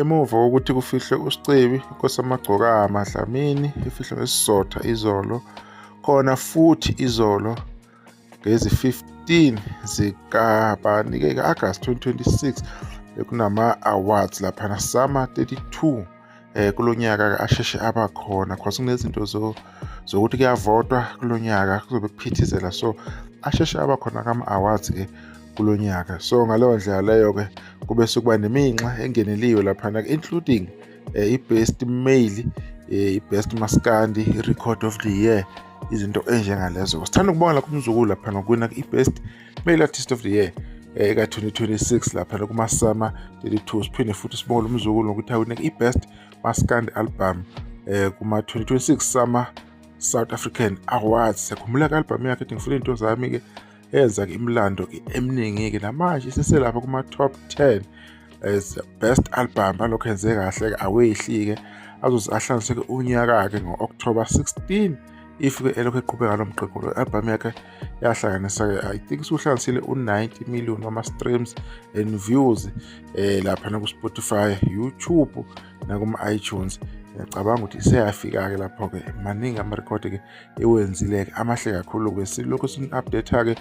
Emuva kokuthi kufihlwe uSicebi inkosi yamagcokama Dlamini ifihlwe ngesizotha izolo khona futhi izolo ngezi-15 zikabani ke August 2026 bekunama awards lapha na summer 32 eh kulonyaka asheshe abakhona because kunezinto zo zokuthi kuyavotwa kulonyaka kuzobe kuphithizela so asheshe abakhona kama awards ke kulonyaka so ngaleyo ndlela leyo ke kube sokuba neminxa engeneliwe lapha na including eh, i-best male eh, i-best maskandi i-record of the year izinto enjengalezo sithanda ukubonga lakho umzukulu lapha nokwina i-best male artist of the year eh, eka-2026 lapha nokumasama 32 siphinde futhi sibonge lo mzukulu ngokuthi awine i-best maskand album eh, kuma-2026 sama south african awards sekhumbula-ke albhamu yakhe ethi ngifuna iy'nto zami-ke yenza ke imlando ke eminingi ke namanje iseselapha kuma top 10 as best album alokho enze kahle ke awehli ke azoze ahlanganise ke unyaka ke ngo-October 16 if ke elokhu eqhubeka lo mqeqo lo album yakhe yahlanganisa ke i think usuhlanganisile u-90 million wama streams and views eh lapha na ku Spotify YouTube na kuma iTunes ngiyacabanga ukuthi iseyafika ke lapho ke maningi ama record ke iwenzile-ke amahle kakhulu-ke silokhu sini-update-ke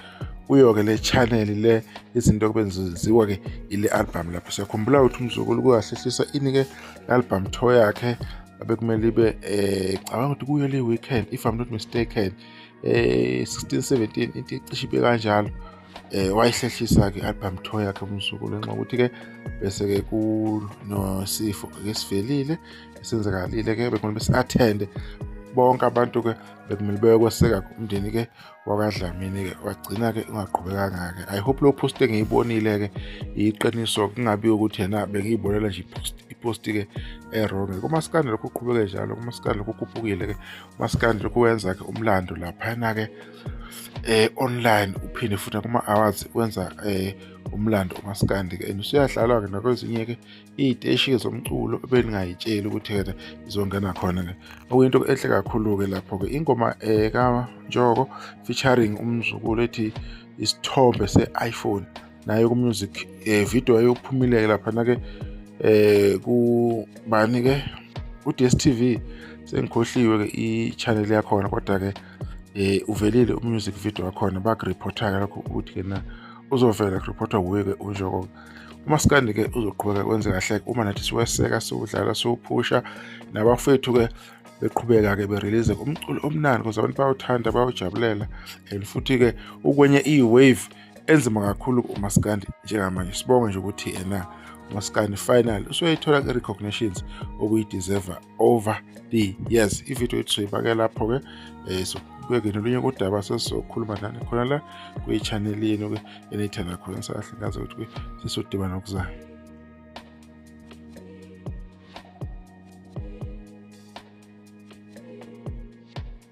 kuyo-ke le channel le izinto kube nziziwa-ke ile album lapho siyakhumbula ukuthi umzukulu kuyahlehlisa ini-ke album tour yakhe abekumele ibe eh cabanga ukuthi kuyo le weekend if i'm not mistaken eh 16 17 into icishe ibe kanjalo eh wayihlehlisa ke album tour yakhe umsuku lenxa ukuthi ke bese ke kunosifo ke sivelile senzakalile ke bekumele bese attend bonke abantu ke bekumele beyokweseka umndeni ke wakadlamini ke wagcina ke ungaqhubekanga ke i hope lo post engiyibonile ke iqiniso kungabi ukuthi yena bengiyibonela nje post ipost ke erong kuma scandal kuqhubeke njalo kuma scandal kukhupukile ke uma scandal kuwenza ke umlando lapha na ke eh online uphinde futhi kuma awards wenza eh umlando umaskandi ke and usuyadlalwa ke nakwezinye ke iziteshi zomculo beningayitsheli ukuthi yena izongena khona ke okuyinto enhle kakhulu ke lapho ke ingoma eh ka Njoko featuring umzukulu ethi isithombe se iPhone naye ku music eh video eyophumile lapha na ke eh ku bani ke u DStv sengikhohliwe ke i channel yakhona kodwa ke eh uvelile umusic video wakhona bakureportaka lokho ukuthi ke na uzovela kureportwa wuye-ke unjoko umaskandi ke uzoqhubeka kwenze kahle uma nathi siweseka siwudlala siwuphusha nabafethu-ke beqhubeka-ke berelease umculo omnandi kuze abantu bawuthanda bawujabulela and futhi-ke ukwenye i-wave enzima kakhulu umaskandi njengamanje sibonge nje ukuthi yena umaskandi final usoyithola i-recognitions okuyi-deserve over the years ivideo yethu soyibake lapho-ke um eh, so kuyekena olunye kodaba sesizokhuluma nani khona la kwiyi-channel yenu-ke eniyithanda khona sahle ngazi ukuthi-ke sesodibana okuzayo